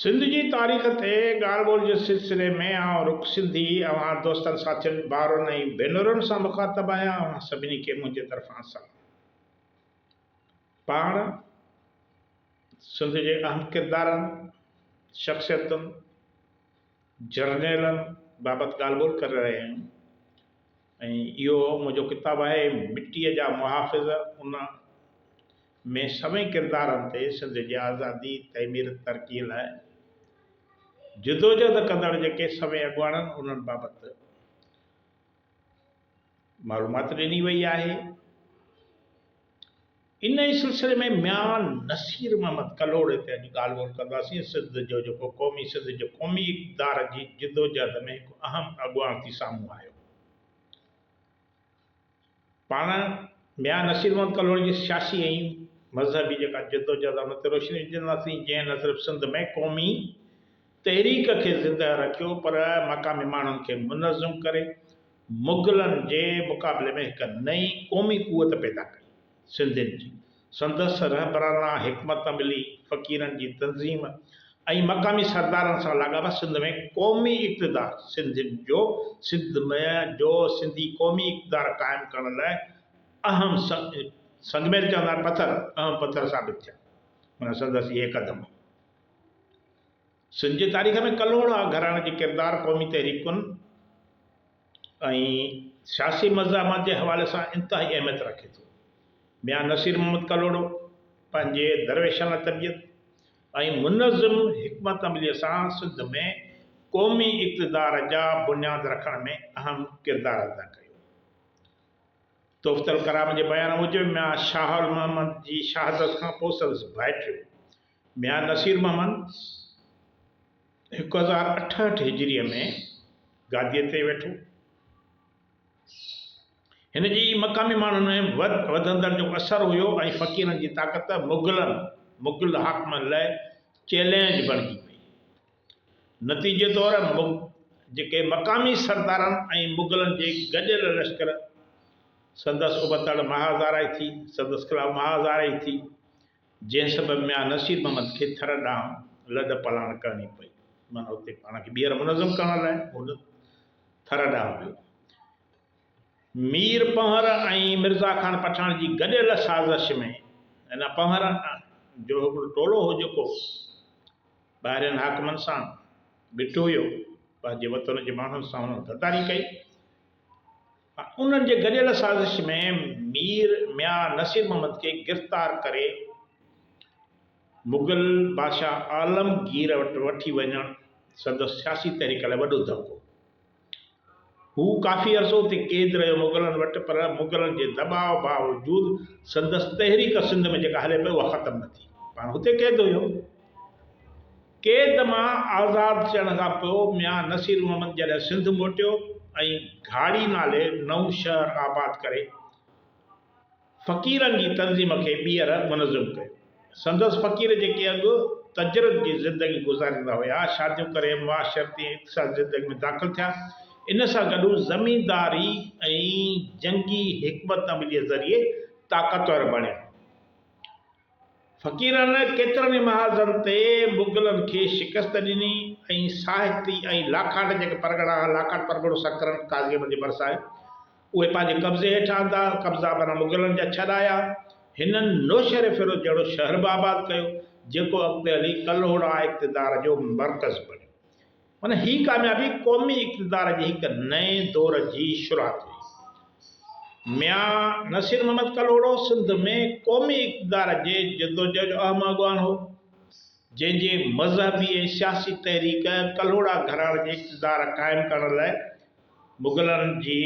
سنڌ جي تاريخ تي ڳالهه ٻولهه جي سلسلي ۾ آئون رک سنڌي اوهان دوستن ساٿين ڀائرن ۽ ڀينرن سان مخاطب آهيان اوهان سڀني کي منهنجي طرفان سلام پاڻ سنڌ جي اهم ڪردارن شخصيتن جرنيلن بابت ڳالهه ٻولهه ڪري رهيا آهيون. ۽ اهو منهنجو ڪتاب آهي مٽيء جا محافظ ان ۾ سوين ڪردارن تي سنڌ جي آزادي، تعمير ترقيء لاء جدوجهد ڪندڙ جيڪي سوين اڳواڻن انهن بابت معلومات ڏني وئي آهي. انهيء سلسلي ۾ ميان نصير محمد ڪلهوڙي تي اڄ ڳالهه ٻولهه ڪنداسين. سنڌ جو جيڪو قومي سنڌ جي قومي اقتدار جي جدوجهد ۾ هڪ اهم اڳواڻ ٿي سامهون آيو. پاڻ ميان نصير محمد ڪلهوڙي جي سياسي ۽ مذهبي جيڪا جدوجهد آهي ان تي روشني وجهنداسين جنهن نه صرف سنڌ ۾ قومي تحريڪ کي زندهه رکيو پر مقامي ماڻهن کي منظم ڪري مغلن جي مقابلي ۾ هڪ نئين قومي قوت پيدا ڪئي. سنڌين جي سندس رهبرانه حڪمت عملي، فقيرن جي تنظيم ۽ مقامي سردارن سان لاڳاپا سنڌ ۾ قومي اقتدار سنڌين جو سنڌ ۾ جو سنڌي قومي اقتدار قائم ڪرڻ لاء اهم سنگ ميل چوندا آهن پٿر اهم پٿر ثابت ٿيا. هن سندس اهي قدم. سنڌ جي تاريخ ۾ ڪلهوڙا گهراڻي جو ڪردار قومي تحريڪن ۽ سياسي مزاحمت جي حوالي سان انتهائي اهميت رکي ٿو. ميان نصير محمد ڪلهوڙو پنهنجي درويشانه طبيعت ۽ منظم حڪمت عمليء سان سنڌ ۾ قومي اقتدار جا بنياد رکڻ ۾ اهم ڪردار ادا ڪيو. تحفته الڪرام جي بيان موجب ميان شاهه المحمد جي شهادت کان پوء سندس ڀائٽيو ميان نصير محمد هڪ هزار اٺهٺ هجريء ۾ گاديء تي ويٺو. هن جي مقامي ماڻهن ۾ وڌ وڌندڙ جو اثر هيو ۽ فقيرن جي طاقت مغلن، مغل حاڪمن، لاء چئلينج بڻجي پئي. نتيجي طور مغ جيڪي مقامي سردارن ۽ مغلن جي گڏيل لشڪر سندس ابتڙ مها هزارائي ٿي، سندس خلاف مها هزارائي ٿي. جنهن سبب ميان نصير محمد کي ٿر ڏانهن لڏ پلاڻ ڪرڻي پئي. معنيٰ اتي پاڻ کي ٻيهر منظم ڪرڻ لاء هو ٿر ڏانهن ويو. مير پنهور ۽ مرزا خان پٺاڻ جي گڏيل سازش ۾ هن پنهور جو هڪڙو ٽولو هو جيڪو ٻاهرين حاڪمن سان بيٺو هيو، پنهنجي وطن جي ماڻهن سان هنن غداري ڪئي. انهن جي گڏيل سازش ۾ مير ميان نصير محمد کي گرفتار ڪري مغل بادشاهه عالمگير وٽ وٺي وڃڻ سندس سياسي تحريڪ لاء وڏو ڌڪو هو. هو ڪافي عرصو اتي قيد رهيو مغلن وٽ پر مغلن جي دٻاء باوجود سندس تحريڪ سنڌ ۾ جيڪا هلي پئي اها ختم نه ٿي. پاڻ هتي قيد هيو. قيد مان آزاد ٿيڻ کان پوء ميان نصير محمد جڏهن سنڌ موٽيو ۽ گهاڙي نالي نئون شهر آباد ڪري فقيرن جي تنظيم کي ٻيهر منظم ڪيو. سندس فقير جيڪي اڳ تجرد جي زندگي گذاريندا هيا، شاديون ڪري معاشرتي ۽ اقتصادي زندگي ۾ داخل ٿيا. ان سان گڏ هو زمينداري ۽ جنگي حڪمت عمليء ذريعي طاقتور بڻيا. فقيرن ڪيترن ئي محاذن تي مغلن کي شڪست ڏني ۽ ساهتي ۽ لاکاٽ جيڪي پرڳڻا ها، لاکاٽ پرڳڻو سڪرنڊ قاضي احمد جي ڀرسان آهي، اهي پنهنجي قبضي هيٺ آندا، قبضا معنيٰ مغلن جا ڇڏايا. هنن نوشهريفيروز جهڙو شهر به آباد ڪيو، جيڪو اڳتي هلي ڪلهوڙا اقتدار جو مرڪز بڻيو. معنيٰ هي ڪاميابي قومي اقتدار جي هڪ نئين دور جي شروعات هئي. ميان نصير محمد ڪلهوڙو سنڌ ۾ قومي اقتدار جي جدوجهد جو اهم اڳواڻ هو، جنهن جي مذهبي ۽ سياسي تحريڪ ڪلهوڙا گهراڻي جي اقتدار قائم ڪرڻ لاء مغلن جي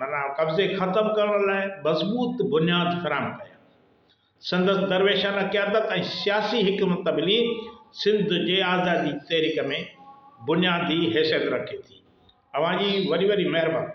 معنيٰ قبضي ختم ڪرڻ لاء مضبوط بنياد فراهم ڪيا. سندس درويشانه قيادت ۽ سياسي حڪمت عملي سنڌ جي آزادي تحريڪ ۾ بنيادي حيثيت رکي ٿي. اوهان جي وڏي وڏي مهرباني.